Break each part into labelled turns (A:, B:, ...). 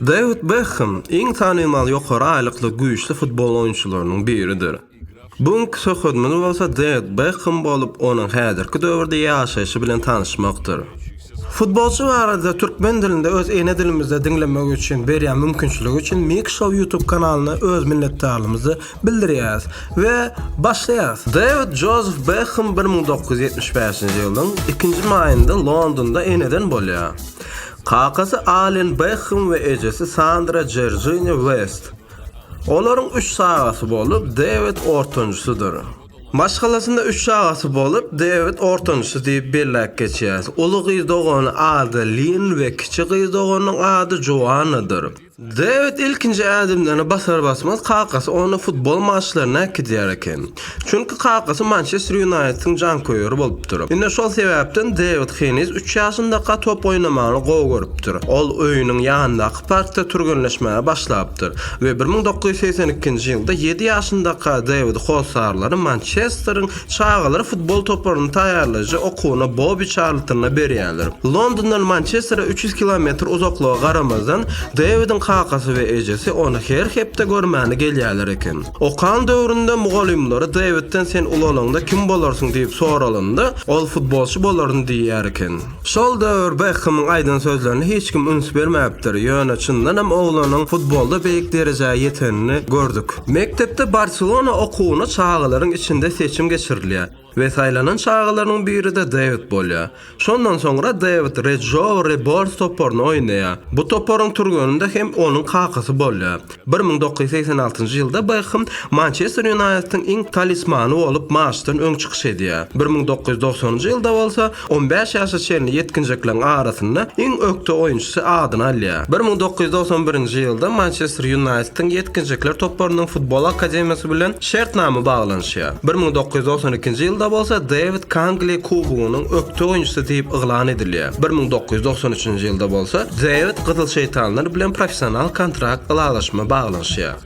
A: Dewid Bekhem iň tanymal ýokary aýlykly güýçli futbol oýunçylarynyň biridir. Bu günki söhbedimiz bolsa Dewid Bekhem bolup, onuň häzirki döwürde ýaşaýşy bilen tanyşmakdyr. Futbolçy barada türkmen dilinde öz ene dilimizde diňlemek üçin berýän mümkinçiligi üçin Mik Show ýutub kanalyna öz minnetdarlygymyzy bildirýäris we başlaýarys. Dewid Jozef Bekham bir müň dokuz ýüz ýetmiş bäşinji ýylyň ikinji maýynda Londonda eneden bolýar. Kakasy Alen Bekham we ejesi Sandra Jerjiniýa West. Olaryň üç çagasy bolup, Dewid ortanjysydyr. Maşgalasynda üç çagasy bolup, Dewid ortanjysy diýip belläp geçýäris. Uly gyz dogany Ada Linn we kiçi gyz doganynyň ady Joannadyr. Dewid ilkinji ädimlerini basar-basmaz kakasy ony futbol maçlaryna äkidýär eken. Çünki kakasy Mançester Ýunaýtediň janköýeri bolupdyr. Ine şol sebäpden Dewid heniz üç ýaşyndaka top oýnamagyny gowy görüpdir. Ol öýüniň ýanyndaky parkda türgenleşmäge başlapdyr we bir müň dokuz ýüz segsen ikinji ýylda ýedi ýaşyndaka Dewidi hossarlary Mançesteriň Çagalar futbol toparyny taýýarlaýjy okuwyny Bobi Çarltonda berýärler. Londondan Mançestere üç ýüz kilometr uzaklyga garamazdan, Dewidin kakasy we ejesi ony her hepde görmäne gelýärler eken. Okan döwründe mugallymlary Dewidden sen ulalaňda kim bolarsyň diýip soralanda, ol futbolçy bolaryn diýýär eken. Şol döwür Bekkhemiň aýdan sözlerine hiç kim üns bermäpdir, ýöne çyndan hem oglanyň futbolda beýik derejä ýetenini gördük. Mekdepde Barselona okuwyna çagalaryň içinde seçim geçirilýär we saýlanan çagalarynyň biri-de Dewid bolýar. Şondan soňra Dewid Rejou Rebors toparyna oýnaýar. Bu toparyň türgeninde hem onuň kakasy bolýar. Bir müň dokuz ýüz segsen altynjy ýylda Bekhem Mançester Ýunaýtediň iň talismany bolup maçdan öň çykyş edýär. Bir müň dokuz ýüz dogsanyňjy ýylda bolsa on bäş ýaşa çenli ýetginjekleriň arasynda iň ökde oýunçysy adyny alýar. Bir müň dokuz ýüz togsan birinji ýylda Mançester Ýunaýtediň ýetginjekler toparynyň futbol akademiýasy bilen şertnama baglanyşýar. Bir müň dokuz ýüz togsan ikinji ýylda bolsa Dewid Kangli kubogynyň Tutunjysy diýip yglan edilýär. Bir müň dokuz ýüz togsan üçünji ýylda bolsa Dewid Gyzyl Şeýtanlar bilen professional kontrakt ylalaşma baglanyşýar.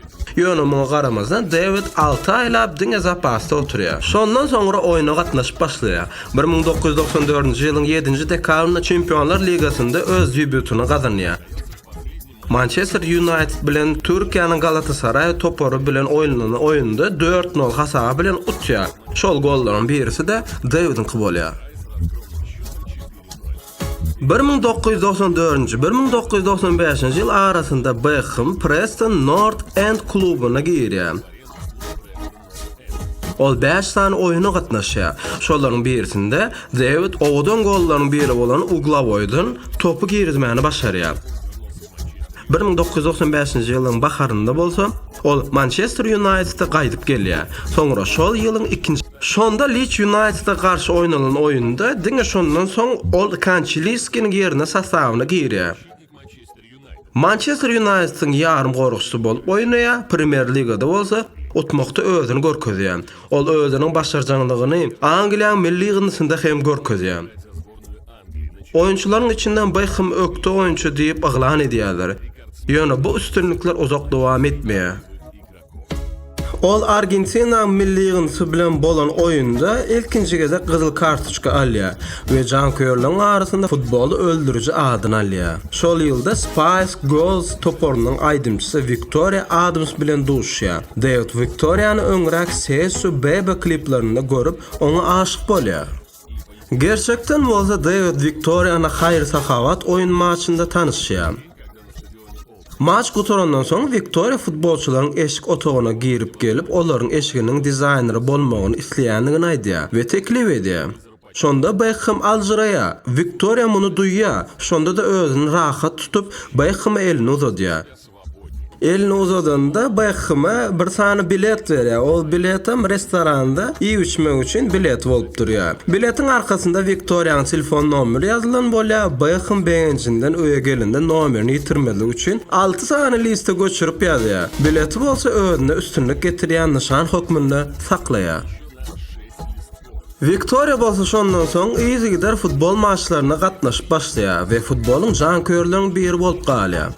A: Ýöne muňa garamazdan Dewid alty aýlap diňe zapasda oturýar. Şondan soňra oýna gatnaşyp başlaýar. Bir müň dokuz ýüz togsan dördünji ýylyň ýedinji dekabrynda Çempionlar ligasynda öz debýutyny gazanýar. Mançester Ýunaýted bilen Türkiýäniň Galatasaraý topary bilen oýnanan oýunda dört nol hasaby bilen utýar. Şol gollaryň birisi-de Dewidiňki bolýar. Bir müň dokuz ýüz togsan dördünji, bir müň dokuz ýüz togsan bäşinji ýyl arasynda Bekhem Preston Nort End klubyna girýär. Ol bäş sany oýuna gatnaşýar. Şolaryň birisinde Dewid owadan gollaryň biri bolan uglawoýdan topy girizmäni başarýar. Bir müň dokuz ýüz togsan bäşinji ýylyň baharynda bolsa, ol Mançester Ýunaýtede gaýdyp gelýär. Soňra şol ýylyň ikinji. Şonda Liç Ýunaýtede garşy oýnalan oýunda diňe şondan soň ol Kançeliskiniň ýerine sostawyna girýär. Mançester Ýunaýtediň ýarymgoragçysy bolup oýnaýar, Premýer Ligada bolsa utmakda özüni görkezýär. Ol özüniň başarjaňlygyny Angliýanyň milli ýygyndysynda hem görkezýär. Oýunçylaryň içinden Bekhem ökde oýunçy diýip yglan edýärler. Ýöne bu üstünlikler uzak dowam etmeýär. Ol Argentina milli ýygyndysy bilen bolan oýunda ilkinji gezek gyzyl kartoçka alýar we janköýerleriň arasynda futboly öldüriji adyny alýar. Şol ýylda Spice Girls toparynyň aýdymçysy Wiktoriýa Adams bilen duşýar. Dewid Wiktoriýany öňräk Sesu Bebe kliplerinde görüp, oňa aşyk bolýar. Gerçekden bolsa Dewid Wiktoriýany haýyr-sahawat oýun maçynda tanyşýar. Maç gutarandan soň Wiktoriýa futbolçylaryň eşik otagyna girip gelip olaryň eşiginiň dizaýneri bolmagyny isleýändigini aýdýar we teklip edýär. Şonda Bekhem aljyraýar. Wiktoriýa muny duýýar, şonda-da özüni rahat tutup, Bekheme elini uzadýar. Elini uzadanda Beckheme bir sany bilet berýär. Ol biletem restoranda iýip-içmek üçin bilet bolup durýar. Biletiň arkasynda Wiktoriýanyň telefon nomeri ýazylan bolýar. Bekham begenjinden öýe gelende nomerini ýitirmezlik üçin alty sany liste göçürip ýazýar. Bileti bolsa özünde üstünlik getirýän nyşan hökmünde saklaýar. Wiktoriýa bolsa şondan soň yzygider futbol maçlaryna gatnaşyp başlaýar we futbolyň janköýerleriň biri bolup galýar.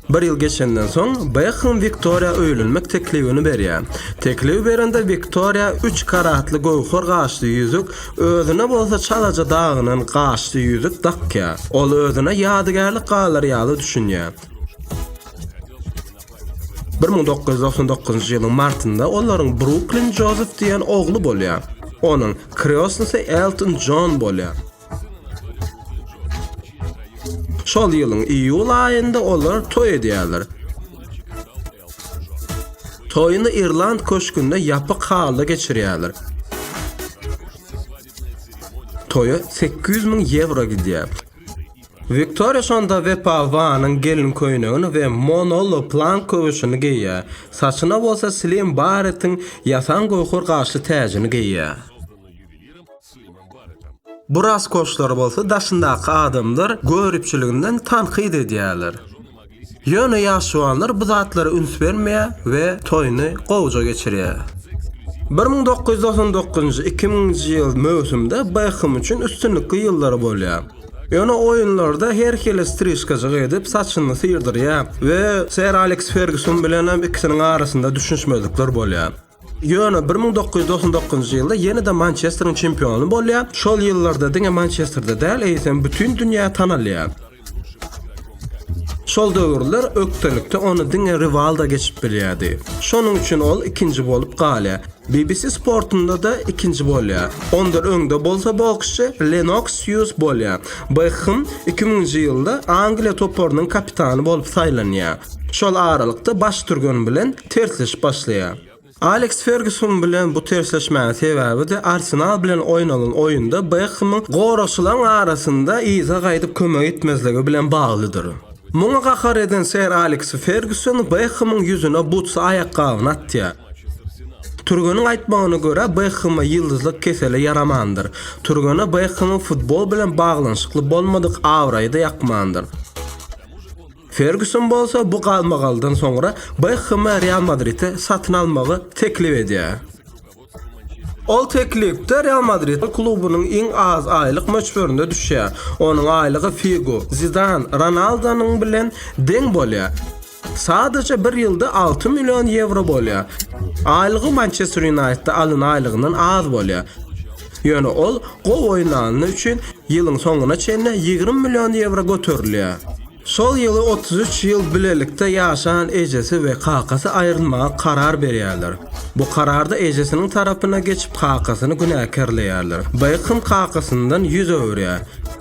A: Bir ýyl geçenden soň, Bekhem Wiktoriýa öýlenmek teklibini berýär. Teklip berende Wiktoriýa üç karatly göwher gaşly ýüzük, özüne bolsa çalaja dagynan gaşly ýüzük dakýar. Ol özüne ýadygärlik galar ýaly düşünýär. Bir müň dokuz ýüz doksan dokuzynjy ýylyň martynda olaryň Bruklin Jozef diýen ogly bolýar. Onuň kreosnysy Elton Jon bolýar. Şol ýylyň iýul aýynda olar toý edýärler. Toýuny Irland köşgünde ýapyk halda geçirýärler. Toýa 800 müň ýewro gidýär. Wiktoriýa şonda Wepa Wanyň gelin köýnegini we Monolo Plank köwşüni geýýär, saçyna bolsa Slim Barretiň ýasan göwher gaşly täjini geýýär. Bu raskoşlary bolsa daşyndaky adamlar göripçiliginden tankyt edýärler. Ýöne ýaşuwanlar bu zatlara üns bermeýär we toýuny gowuja geçirýär. Bir müň dokuz ýüz togsan dokuzynjy, iki müňünji ýyl möwsümde Bekham üçin üstünlikli ýyllary bolýar. Ýöne oýunlarda her hili strişkajyk edip, saçyny syrdyrýar we Ser Aleks Ferguson bilen hem ikisiniň arasynda düşünişmezlikler bolýar. Ýöne bir müň dokuz ýüz togsan dokuzynjy ýylda ýene-de Mançesteriň çempiony bolýar. Şol ýyllarda diňe Mançesterde däl, eýsem bütin dünýä tanalýar. Şol döwürler ökdelikde ony diňe Riwaldo geçip bilýärdi. Şonuň üçin ol ikinji bolup galýar. BBC sportunda-da ikinji bolýar. Ondan öňde bolsa boksçy Lenoks Hýuz bolýar. Bekhem iki müňünji ýylda Angliýa toparynyň kapitany bolup saýlanýar. Şol aralykda baş türgen bilen tersleşip başlaýar. Aleks Ferguson bilen bu tersleşmäniň sebäbi-de Arsenal bilen oýnalan oýunda Bekhemiň goragçylaryň arasynda yza gaýdyp kömek etmezligi bilen baglydyr. Muňa gahar eden Ser Aleks Ferguson Bekhemiň ýüzüne butsy aýakgabyny atýar. Türgeniň aýtmagyna görä, Bekheme ýyldyzlyk keseli ýaramandyr. Türgene Bekhemiň futbol bilen baglanyşykly bolmadyk abraýy-da ýakmandyr. Ferguson bolsa bu galmagaldan soňra Bekkhemi Real Madride satyn almagy teklip edýär. Ol teklipde Real Madrid klubunyň iň az aýlyk möçberine düşýär. Onuň aýlygy Figo, Zidan, Ronaldonyň bilen deň bolýar. Sadaja bir ýylda alty million ýewro bolýar. Aýlygy Mançester Ýunaýtda alan aýlygyndan az bolýar. Ýöne ol gowy oýnany üçin ýylyň soňuna çenli ýigrimi million ýewro göterilýär. Şol ýyly otuz üç ýyl bilelikde ýaşan ejesi we kakasy aýrylmaga karar berýärler. Bu kararda ejesiniň tarapyna geçip kakasyny günäkärleýärler. Bekham kakasyndan ýüz öwürýär.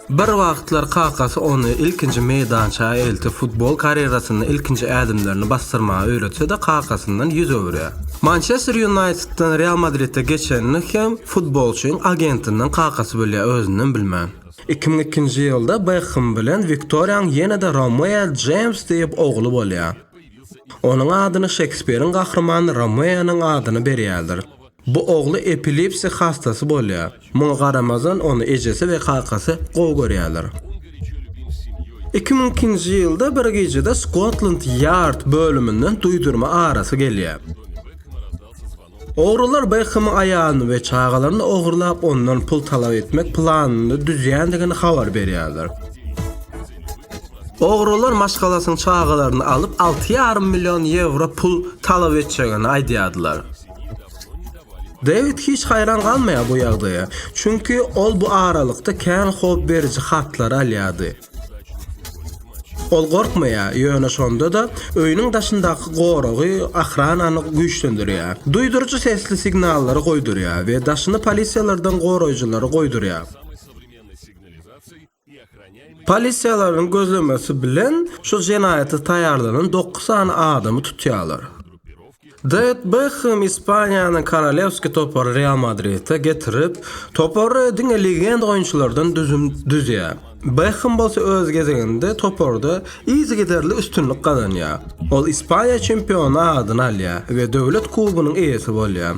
A: Bir wagtlar kakasy ony ilkinji meýdança eltip, futbol karýerasynda ilkinji ädimlerini basdyrmagy öwretse-de, kakasyndan ýüz öwürýär. Mançester Ýunaýtedden Real Madride geçenini hem futbolçyň agentinden kakasy bilýär, özünden bilmän. Iki müň ikinji ýylda Bekhem bilen Wiktoriýanyň ýene-de Romeo Jeýms diýip ogly bolýar. Onuň adyny Şekspiriň gahrymany Romeonyň adyna berýärler. Bu ogly epilipsiýa hassasy bolýar. Muňa garamazdan ony ejesi we kakasy gowy görýärler. Iki müň ikinji ýylda bir gijede Skotland Ýard bölüminden duýdurma arasy gelýär. Ogrular Bekhamyň aýalyny we çagalaryny ogurlap ondan pul talap etmek planyny düzýändigini habar berýärler. Ogrular maşgalasynyň çagalaryny alyp alty ýarym million ýewro pul talap etjegini aýdýardylar. Dewid hiç haýran galmaýar bu ýagdaýa, çünki ol bu aralykda kän howp beriji hatlary alýardy. Ol gorkmaýar, ýöne şonda-da öýüniň daşyndaky goragy, ohranany güýçlendirýär. Duýduryjy sesli signallary goýdurýar we daşyny polisiýalardan goraýjylary goýdurýar. Polisiýalaryň gözlemesi bilen şu jenaýata taýýarlanan dokuz sany adamy tutýarlar. Dewid Bekhem Ispaniýanyň Korolewski topary Real Madride getirip, topary diňe legenda oýunçylardan düzüm düzýär. Bekhem bolsa öz gezeginde toparda yzygiderli üstünlik gazanýar. Ol Ispaniýa çempiony adyny alýar we döwlet kubogynyň eýesi bolýar.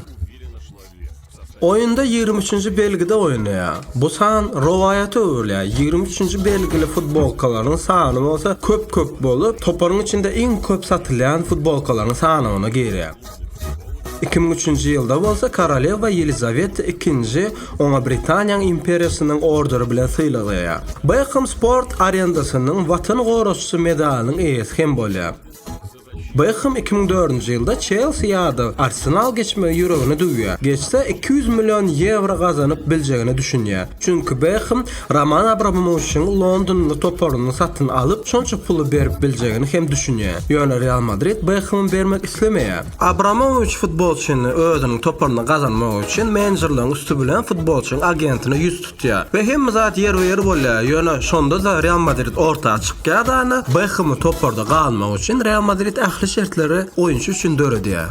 A: Oýunda ýigrimi üçünji belgide oýnaýar. Bu san rowaýata öwrülýär, ýigrimi üçünji belgili futbolkalaryň sany bolsa köp-köp bolup, toparyň içinde iň köp satylýan futbolkalaryň sanawyna girýär. Iki müň üçünji ýylda bolsa Korolewa Ýelizaweta II oňa Britaniýanyň imperiýasynyň orderi bilen sylaglaýar. Bekhem sport arendasynyň Watan goraçysy medalynyň eýesi hem bolýar. Bekhem iki müň dördünji ýylda Çelsi ýa-da Arsenal geçmegi ýüregine düwýär. Geçse, iki ýüz million ýewro gazanyp biljegine düşünýär. Çünki Bekhem Roman Abramowiçiň londonly toparyny satyn alyp, şonça puly berip biljegini hem düşünýär. Ýöne Real Madrid Bekhemi bermek islemeýär. Abramowiç futbolçyny özüniň toparyna gazanmak üçin menejerleriň üsti bilen futbolçyň agentine ýüz tutýar. Çykýar. We hemme zat ýerbe-ýer bolýar. Ýöne şonda-da Real Madrid orta çykýar-dana, Bekhemi toparda galmagy üçin Real Madrid ähli şertleri oýunçy üçin döredýär.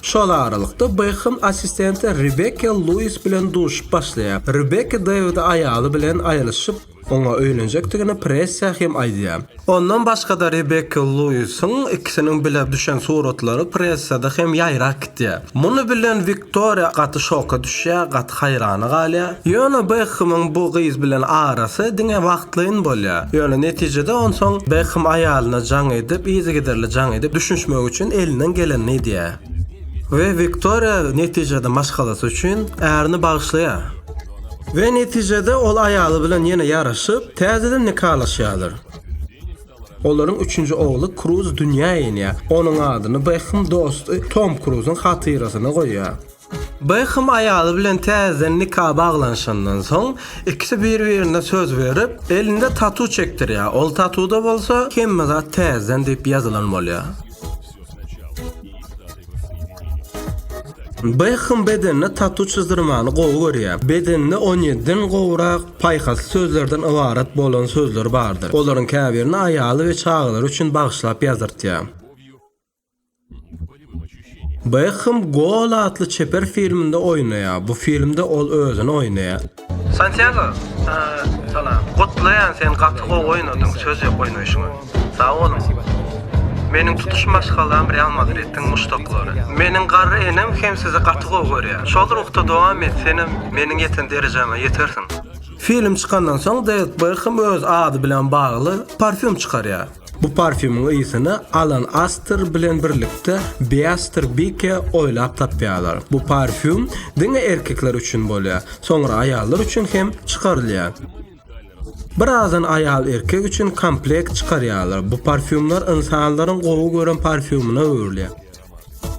A: Şol aralykda Bekhem assistenti Rebekka Luis bilen duşup başlaýar. Rebekka Dewidi aýaly bilen aýrylyşyp, Oňa öýlenjekdigini pressiýa hem aýdýar. Ondan başga-da Rebekka Luisiň ikisiniň bile düşen suratlary pressiýada hem ýaýrap gidýär. Muny bilen Wiktoriýa gaty şoka düşýär, gaty haýrana galýar. Ýöne Bekhemiň bu gyz bilen arasy diňe wagtlaýyn bolýar. Ýöne netijede onsoň Bekhem aýalyna jaň edip, yzygiderli jaň edip, düşünişmek üçin elinden gelenini edýär. We Wiktoriýa netijede maşgalasy üçin ärini bagyşlaýar. We netijede ol aýaly bilen ýene ýaraşyp, täzeden nikalaşýarlar. Olaryň üçünji ogly Kruz dünýä inýär. Onuň adyny Bekham dosty Tom Kruzyň hatyrasyna goýýar. Bekham aýaly bilen täzeden nika baglanyşandan soň, ikisi bir-birine söz berip, elinde tatu çekdirýär. Ol tatuda bolsa, Hemme zat täzeden diýip ýazylan bolýar. Beckham bedenine tatu çyzdyrmany gowy görýär. Bedeninde on ýediden gowrak paýhasly sözlerden ybarat bolan sözler bardyr. Olaryň käbirini aýaly we çagalary üçin bagyşlap ýazdyrtýar. Beckham Gol atly çeper filminde oýnaýar. Bu filmde ol özüni oýnaýar. Santiago salam. Gutlaýan sen gaty gowy oýnadyň. Söz ýok oýnaýşyňa. Sag boluň. Meniň tutuş maşgalam Real Madriddiň muşdaklary. Meniň garry enem hem sizi gaty gowy görýär. Şol ruhda dowam et senem meniň ýeten derejäme ýetersiň. Film çykandan soň Deýwid Bekhem öz ady bilen bagly parfýum çykarýar. Bu parfýumyň ysyny Alan Aster bilen birlikde Beaster Bike oýlap tapýarlar. Bu parfýum diňe erkekler üçin bolýar, soňra aýallar üçin hem çykarylýar. Birazdan aýal erkek üçin komplekt çykarýarlar. Bu parfýumlar ynsanlaryň gowy gören parfýumyna öwrülýär.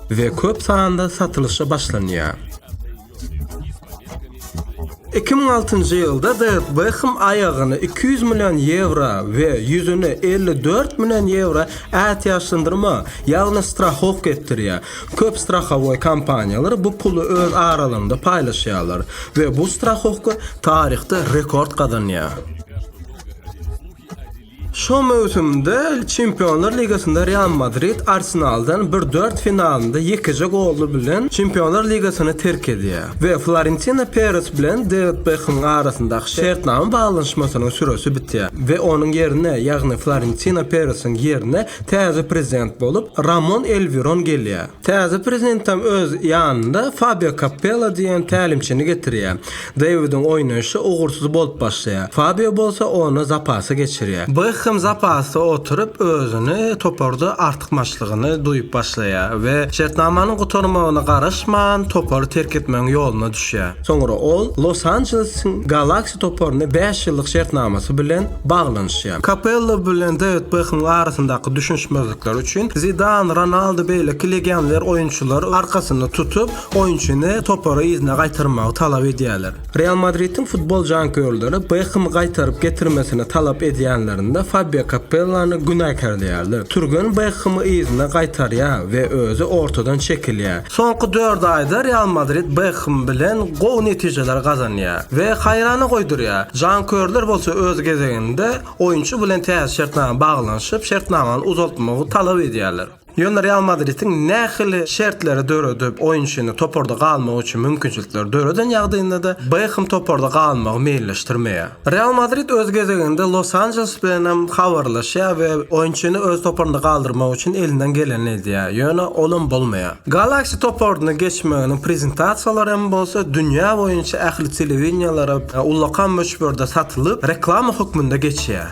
A: we köp sanda satylyşa başlanýar. Iki müň altynjy ýylda Dewid Bekhem aýagyny iki ýüz million ýewro we ýüzüni elli dört million ýewro ätiýaçlandyrma, ýagny strahowka etdirýär. Köp strahowoý kompaniýalary bu puly öz aralarynda paýlaşýarlar we bu strahowka taryhda rekord gazanýar. Şu möwsümde Çempionlar ligasynda Real Madrid Arsenaldan bir dört finalynda ýekeje goly bilen Çempionlar ligasyny terk edýär we Florentino Peres bilen Dewid Bekhemiň arasyndaky şertnama baglanyşmasynyň süresi bitýär we onuň ýerine, ýagny Florentino Peresiň ýerine täze prezident bolup Ramon Elwiron gelýär. Täze prezidentem öz ýanynda Fabio Kappella diýen tälimçini getirýär. Dawidiň oýnaýşy ugursyz bolup başlaýar. Fabio bolsa ony zapasa geçirýär. Bekhem zapasda oturyp, özüni toparda artykmaçlygyny duýup başlaýar we şertnamanyň gutarmagyna garaşman, topary terk etmegiň ýoluna düşýär. Soňra ol Los Anjelesiň Galaksi toparyna bäş ýyllyk şertnamasy bilen baglanyşýar. Kapello bilen Dawid Bekhemiň arasyndaky düşünişmezlikler üçin Zidan, Ronaldo beýleki legioner oýunçylary arkasyna tutup, Oýunçyny topara yzyna gaýtarmagy talap edýärler. Real Madridiň futbol janköýerleri Bekhemi gaýtaryp getirmesini talap edýänlerinde Fabio Kappellany günäkärleýärler. Türgen Bekhemi yzyna gaýtarýar we özi ortadan çekilýär. Soňky dört aýda Real Madrid Bekhem bilen gowy netijeleri gazanýar we haýrana goýdurýar. Janköýerler bolsa öz gezeginde oýunçy bilen täze şertnama baglanyşyp, şertnamany uzaltmagy talap edýärler. Ýöne Real Madridiň nähili şertleri döredip, oýunçyny toparda galmagy üçin mümkinçilikleri döreden ýagdaýynda-da, Bekhem toparda galmagy meýilleşdirmeýär. Real Madrid öz gezeginde Los-Anjeles bilenem habarlaşýar we oýunçyny öz toparynda galdyrmak üçin elinden gelenini edýär, ýöne olam bolmaýar. Galaxy toparyna geçmeginiň prezentasiýalary hem bolsa dünýä boýunça ähli telewideniýelere ullakan möçberde satylyp, reklama hökmünde geçýär.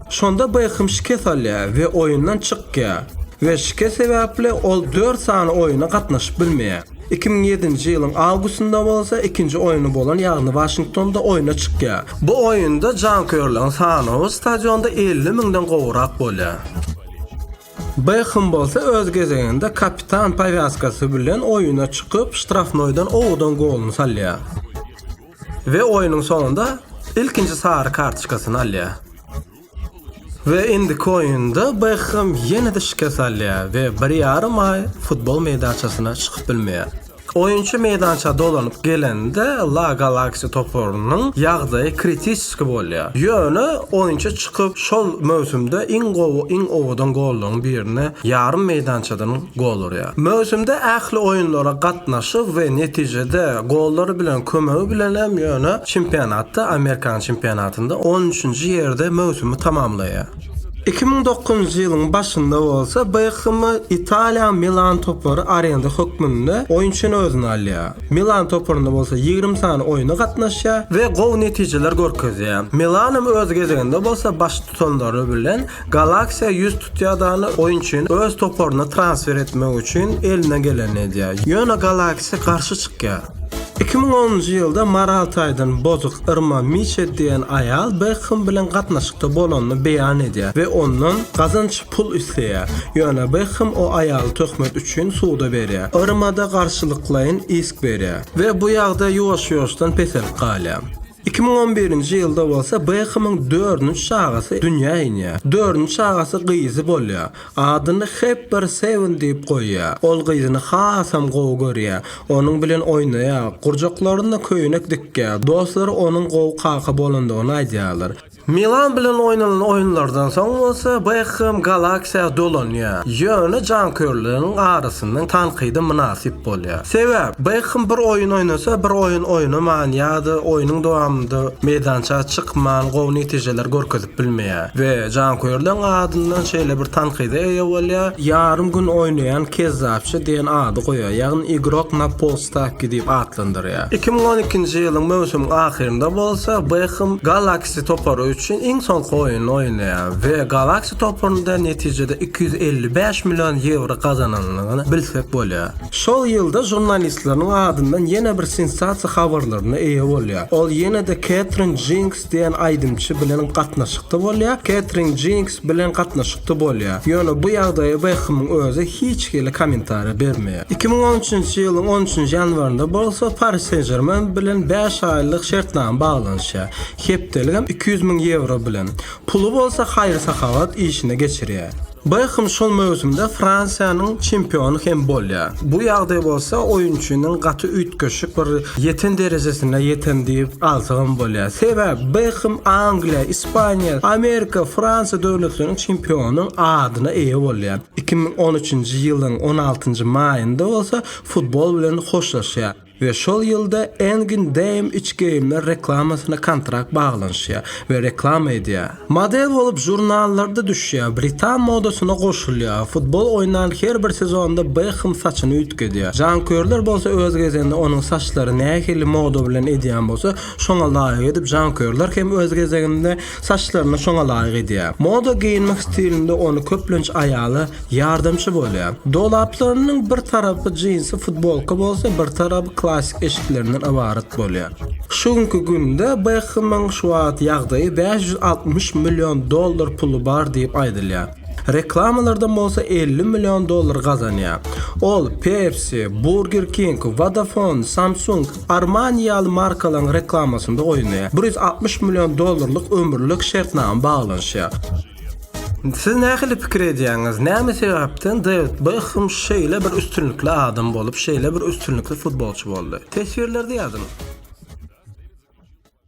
A: Şonda Bekhem şikes alýar we oýundan çykýar we şikes sebäpli ol dört sany oýuna gatnaşyp bilmeýär. Iki müň ýedinji ýylyň awgustynda bolsa ikinji oýny bolan ýagny Waşingtonda oýna çykýar. Bu oýunda janköýerleriň sanawy stadionda elli müňden gowrak bolýar. Bekhem bolsa öz gezeginde kapitan powýaskasy bilen oýuna çykyp, ştrafnoýdan owudan goluny salýar. We oýunyň soňunda ilkinji sary kartoçkasyny alýar. We indiki oýunda Bekham ýene-de şikes alýar we bir ýarym aý futbol meýdançasyna çykyp bilmeýär. Oýunçy meýdança dolanyp gelende La Galaxy toparynyň ýagdaýy kritiski bolýar. Ýöne oýunçy çykyp şol möwsümde iň gowy iň owadan gollaryň birini ýarym meýdançadan goldurýar. Möwsümde ähli oýunlara gatnaşy we netijede gollary bilen kömegi bilen hem ýöne çempionatda, Amerikan çempionatynda on üçünji ýerde möwsümi tamamlaýar. Iki müň dokuzynjy ýylyň başynda bolsa Bekkhemi Italiýanyň Milan topary arenda hökmünde oýunçyny özüne alýar. Milan toparynda bolsa ýigrimi sany oýuna gatnaşýar we gowy netijeler görkezýär. Milan hem öz gezeginde bolsa baştutanlary bilen Galaxia ýüz tutýar dany oýunçyny öz toparyna transfer etmek üçin eline gelenini edýär. Ýöne Galaxia garşy çykýar. Iki müň onunjy ýylda moral taýdan bozuk Irma Miçe diýen aýal Bekhem bilen gatnaşykda bolanyny beýan edýär we ondan gazanç pul isleýär. Ýöne Bekhem o aýaly töhmet üçin suda berýär. Irma-da garşylyklaýyn isk berýär. We bu ýagdaý ýuwaş-ýuwaşdan peselip galýar. Iki müň on birinji ýylda bolsa Bekhemiň dördünji çagasy dünýä inýär. Dördünji çagasy gyzy bolýar. Adyny Hepber Sewen diýip goýýar. Ol gyzyny hasam gowy görýär. Onuň bilen oýnaýar, gurjaklarynda köýnek dikýär. Dostlary onuň gowy kaka bolandygyny aýdýarlar. Milan bilen oýnalan oýunlardan soň bolsa Bekhem Galaksiýa dolanýar, ýöne janköýerleriň arasyndan tankyda mynasyp bolýar. Sebäp, Bekhem bir oýun oýnasa, bir oýun oýnaman ýa-da oýnuň dowamynda meýdança çykman gowy netijeleri görkezip bilmeýär we janköýerleriň adyndan şeýle bir tankyda eýe bolýar, ýarym gün oýnaýan kezzapçy diýen ady goýýar, ýagny igrok na polstavki diýip atlandyrýar. ýaşaýar. Iki müň on ikinji ýylyň möwsümiň ahyrynda bolsa Bekham Galaksi topary üçin iň soňky oýnuny oýnaýar we Galaksi toparynda netijede iki ýüz elli bäş million ýewro gazanandygyny bilsek bolýar. Şol ýylda žurnalistleriniň adyndan ýene bir sensasiýa habarlaryna eýe bolýar. Ol ýene-de Ketrin Jinx Diýen aýdymçy bilen gatnaşykda bolýar, Ketrin Jinks bilen gatnaşykda bolýar. Ýöne bu ýagdaýa Bekhemiň özi hiç hili kommentariýa bermeýär. Iki müň on üçünji ýylyň on üçünji ýanwarynda bolsa Pari Sen-Žermen bilen bäş aýlyk şertnama baglanyşýar, hepdeligem iki ýüz müň ýewro bilen. Puly bolsa haýyr-sahawat işine geçirýär. Bekhem şol möwsümde Fransiýanyň çempiony hem bolýar. Bu ýagdaý bolsa oýunçynyň gaty üýtgeşik bir ýeten derejesine ýeten diýip alsagam bolýar. Sebäp Bekhem Angliýa, Ispaniýa, Amerika, Fransiýa döwletleriniň çempionynyň adyna eýe bolýar. Iki müň on üçünji ýylyň on altynjy maýynda bolsa futbol bilen hoşlaşýar. we şol ýylda Engin Dame üç geýimler reklamasyna kontrakt baglanyşýar we reklama edýär. Model bolup žurnallarda düşýär, britan modasyna goşulýar, futbol oýnan her bir sezonda Bekhem saçyny üýtgedýär. Janköýerler bolsa öz gezeginde onuň saçlary nähili moda bilen edýän bolsa, şoňa laýyk edip, janköýerler hem öz gezeginde, Saçlaryny şoňa laýyk edýär. Moda geýinmek stilinde ony köplenç aýala ýardamçy bolýar. Dolaplarynyň bir tarapy jinsi futbolka bolsa, bir tarapy klassik eşiklerinden ybarat bolýar. Şu günki günde Bekhamyň şu wagt ýagdaýy bäş ýüz altmyş million dollar puly bar diýip aýdylýar. Reklamalardan bolsa elli million dollar gazanýar. Ol Pepsi, Burger King, Vodafone, Samsung, Armani ýaly markalaryň reklamasynda oýnaýar. Bir ýüz altmyş million dollarlyk ömürlik şertnama baglanyşýar. Siz nähili pikir edýäňiz, näme sebäpden Dewid Bekhem şeýle bir üstünlikli adam bolup, şeýle bir üstünlikli futbolçy boldy? Teswirlerde ýazyň!